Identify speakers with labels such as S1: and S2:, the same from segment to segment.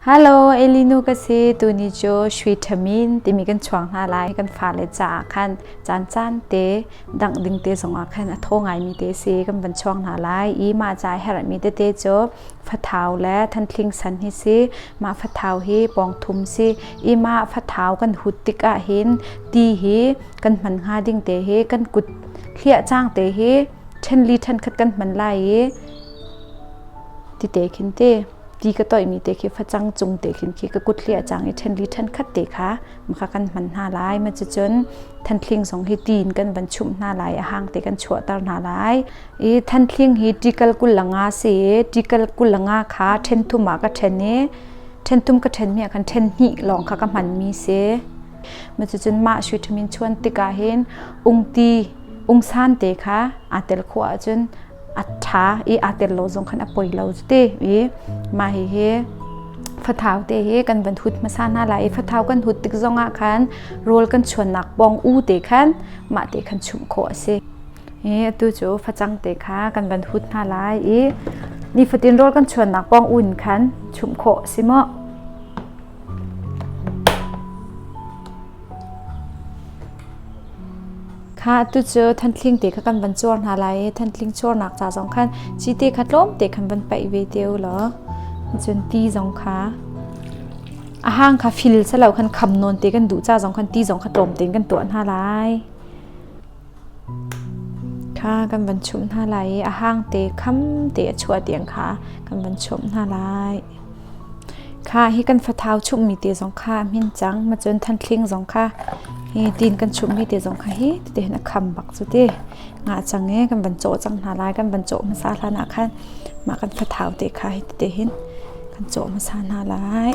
S1: Hello, Elinu ka si. Tuni cu shui ṭhamin timi kan chuang hna lai. Kan fale caah khan caancaan te dangh ding te zongah khan a thaw ngaimi te si kan van chuang hna lai i mah ca i herhmi tete cu fathau le thantling san hi si. Mah fathau hi pawngthum si i mah fathau kan hut tikah hin ti hi kan hman hnga ding te hi kan kut hliah cang te hi ṭhen li ṭhen khat kan hman lai i ti te khin ti ti ka toihmi te khi facang cung te khin khi ka kut hli a cang i ṭhenli ṭhenkhat te kha makha kan hman hna lai ma cucun thanthling zong hi tiin kan van chumh hna lai a hang te kan chuahter hna lai i thanthling hi tikal kulanga si i tikal kulanga kha ṭhen thum ah ka ṭhen i ṭhen thum ka ṭhenmi ah khan ṭhen hnih lawng kha ka hmanmi si cucun mah vitamin chuan tikah hin ungti ungsan te kha aa tel khawh ahcun a ṭha i aa tel lo zong khan a poi lo cuti i mah hihi fathau te hi kan van hut hmasa hna lai i fathau kan hut tik zongah khan rawl kan chuannak pawng u te khan mah te khan chumh khawh a si i atu cu facang te kha kan van hut hna lai i nifatin rawl kan chuannak pawng u in khan chumh khawh a si maw? Khah, tucu thantling te kha kan van cuar hna lai i thantling cuarnak ca zong khan cite kha tlawmte khan van paih ve te u law cun ti zong kha a hang kha fil silo khan kham nawn te kan duh ca zong khan ti zong kha tlawm tein kan tuah hna lai. Kha kan van chumh hna lai i a hangte khamte a chuah tiang kha kan van chumh hna lai. Kha hi kan fathau chumhmi te zong kha a hmin cang. Macun thantling zong kha hi tin kan chumhmi te zong kha hi tete hin a kham bak cu ti. Ngah cang e kan van cawh cang hna lai. Kan van cawh hmasa hlan ah khan mah kan fathau te kha hi tete hin kan cawh hmasa hna lai.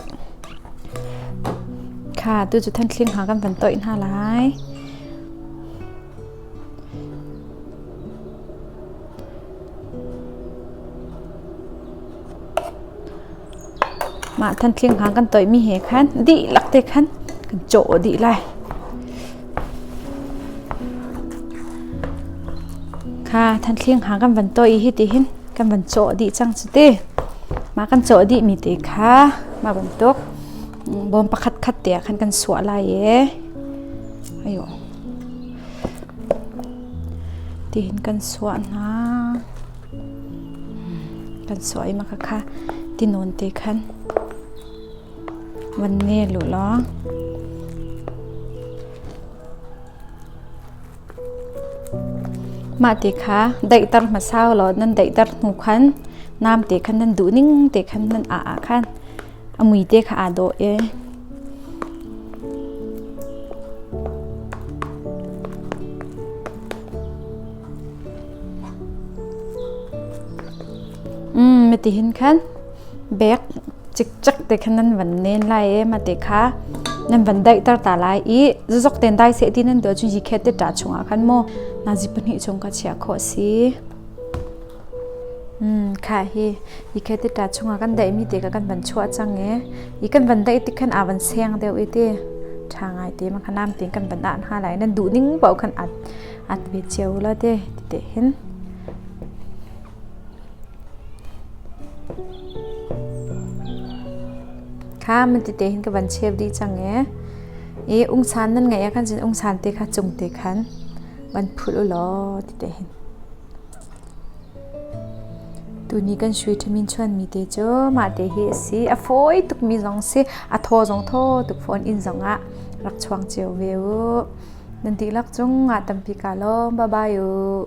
S1: Kha tu cu thantling ha kan van toih hna lai. Mah thanthling hang kan toihmi he khan dihlak te khan kan cawh dih lai. Kha thanthling hang kan van toi hi ti hin kan van cawh dih cang cu ti. Mah kan cawh dihmi te kha mah bantuk bawm pakhatkhat te ah khan kan suah lai i ayo tihin kan suah hna kan suah i maka kha tinawn te khan van ne lu law mah ti kha daihter hmasau law nan daihter hnu khan nam te khan nan duh ning te khan nan a a khan A mui te kha aa dawh i matihin khan bek cikcek te khan nan van nen lai i mate kha nan van daihter ta lai i zazok ten dai seh ti nan tuah cun hi khet te ṭa chungah khan maw nazi pahnih chung kha chiah khawh a si. Khah hi ikhe ti ṭa chungah kan daihmi ti kha kan van chuah cang i i kan van daih tik khan aa van seng deuh i ti ṭha ngai ti ma kha nampi in kan van ah hna lai. Nan duhning paoh khan at ve cio u law ti ti hin. Kha man ti te hin ka van cheu dih cang i i ungsan nan ngeih ah khan cun ungsan te kha cung te khan van phulh u law ti te hin. Tuni kan sui ṭhim in chuanmi te cu mahte hi a si. A fawi tukmi zong si, a thaw zong thaw tuk fawn inn zongah rak chuang cio ve u. Nan dihlak cung ah tampi kaa lawm. Bye-bye u.